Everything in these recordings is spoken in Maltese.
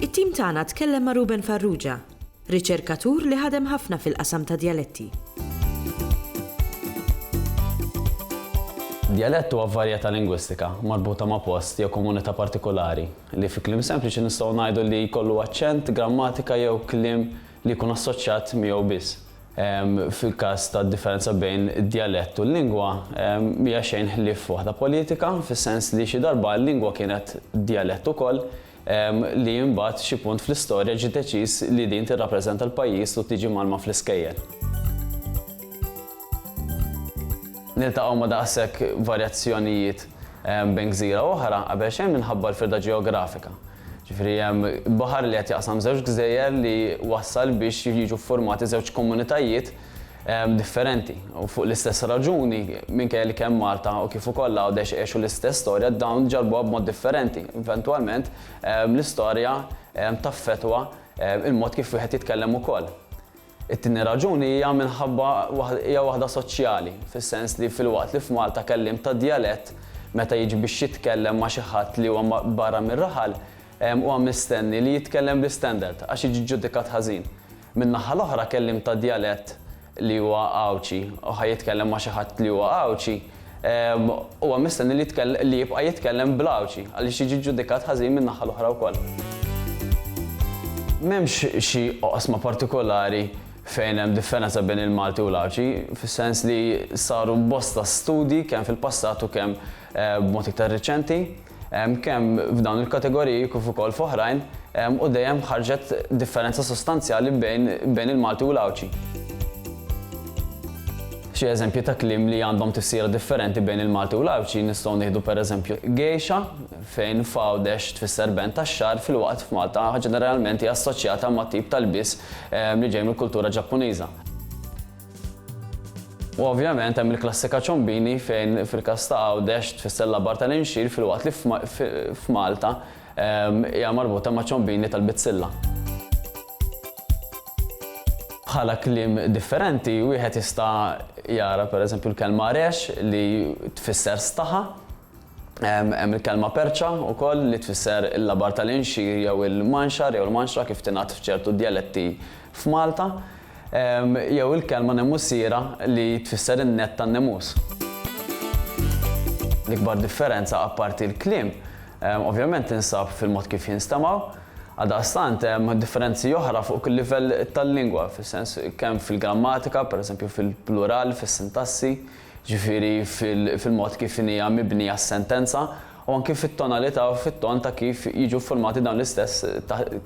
It-tim tagħna tkellem ma' Ruben Farrugia, riċerkatur li ħadem ħafna fil-qasam ta' djaletti. Djalett huwa varjetà lingwistika marbuta ma' post jew komunità partikulari li fi kliem sempliċi nistgħu ngħidu li jkollu aċċent, grammatika jew kliem li jkun assoċjat miegħu biss. Fil-każ tad-differenza bejn id-djalett u l-lingwa, mhija xejn ħlief waħda politika, fis-sens li xi darba l-lingwa kienet djalett ukoll, li imbagħad xi punt fl-istorja ġie deċiż li din tirrappreżenta l-pajjiż u tiġi mgħallma fl-iskejjel. Niltaqgħu ma' daqshekk varjazzjonijiet bejn gżira u oħra qabel xejn minħabba l-firda ġeografika. Ġifieri hemm baħar li qed jaqsam żewġ gżejjer li wassal biex jiġu ffurmati żewġ komunitajiet differenti u fuq l-istess raġuni minkejja li kemm Malta u kif ukoll Għawdex għexu l-istess storja dawn ġarbuha b'mod differenti. Eventwalment l-istorja taffettwa l-mod kif wieħed jitkellem ukoll. It-tieni raġuni hija minħabba hija waħda soċjali, fis-sens li filwaqt li f'Malta kelliem ta' djalett meta jiġi biex jitkellem ma' xi ħadd li huwa barra mir-raħal huwa mistenni li jitkellem bl-istandard għax jiġi ġġudikat ħażin, min-naħa l-oħra kelliem ta' djalett li huwa Għawdxi u ħa jitkellem ma' xi ħadd li huwa Għawdxi, Huwa mistenni li jibqa' jitkellem bl-Għawdxi għaliex jiġi ġġudikat ħażin min-naħa l-oħra wkoll. M'hemmx xi oqsma partikolari fejn hemm differenza bejn il-Malti u l-Għawdxi, fis-sens li saru bosta studji kemm fil-passat u kemm b'mod iktar riċenti. kemm f'dawn il-kategoriji kif ukoll f'oħrajn, u dejjem ħarġet differenza sostanzjali bejn il-Malti u l-Għawdxi. Xi eżempji ta' kliem li għandhom tifsira differenti bejn il-Malti u l-Għawdxi nistgħu nieħdu pereżempju gejxa, fejn f'Għawdex tfisser band tax-xagħar filwaqt f'Malta ġeneralment hija assoċjata ma' tip ta' lbies li ġej mill-kultura Ġappuniża. U ovvjament hemm il-klassika ċombini fejn fil-każ ta' Għawdex tfisser l-abar tal-inxir filwaqt li f'Malta hija marbuta ma' ċombini tal-bizzilla. Bħala kliem differenti wieħed jista' jara pereżempju l-kelma rex li tfisser staħa Hemm il-kelma perċa wkoll li tfisser il-labar tal-inxir jew il-manxar jew il-manxra kif tingħad f'ċertu djaletti f'Malta, jew il-kelma nemussiera li tfisser in-nett tan-nemus. L-ikbar differenza apparti l-kliem ovvjament tinsab fil-mod kif jinstemgħu, għaldaqstant hemm differenzi oħra fuq kull livell tal-lingwa, fis-sens kemm fil-grammatika, pereżempju fil-plural, fis-sintassi, jiġifieri fil-mod kif hija mibnija s-sentenza u anki fit-tonalità u fit-ton ta' kif jiġu ffurmati dawn l-istess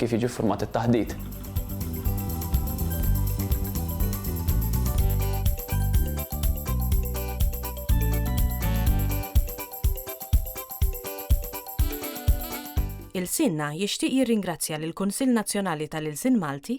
kif jiġi ffurmat it-taħdit. Ilsienna jixtieq jirringrazzja lill-Kunsill Nazzjonali tal-Ilsien Malti,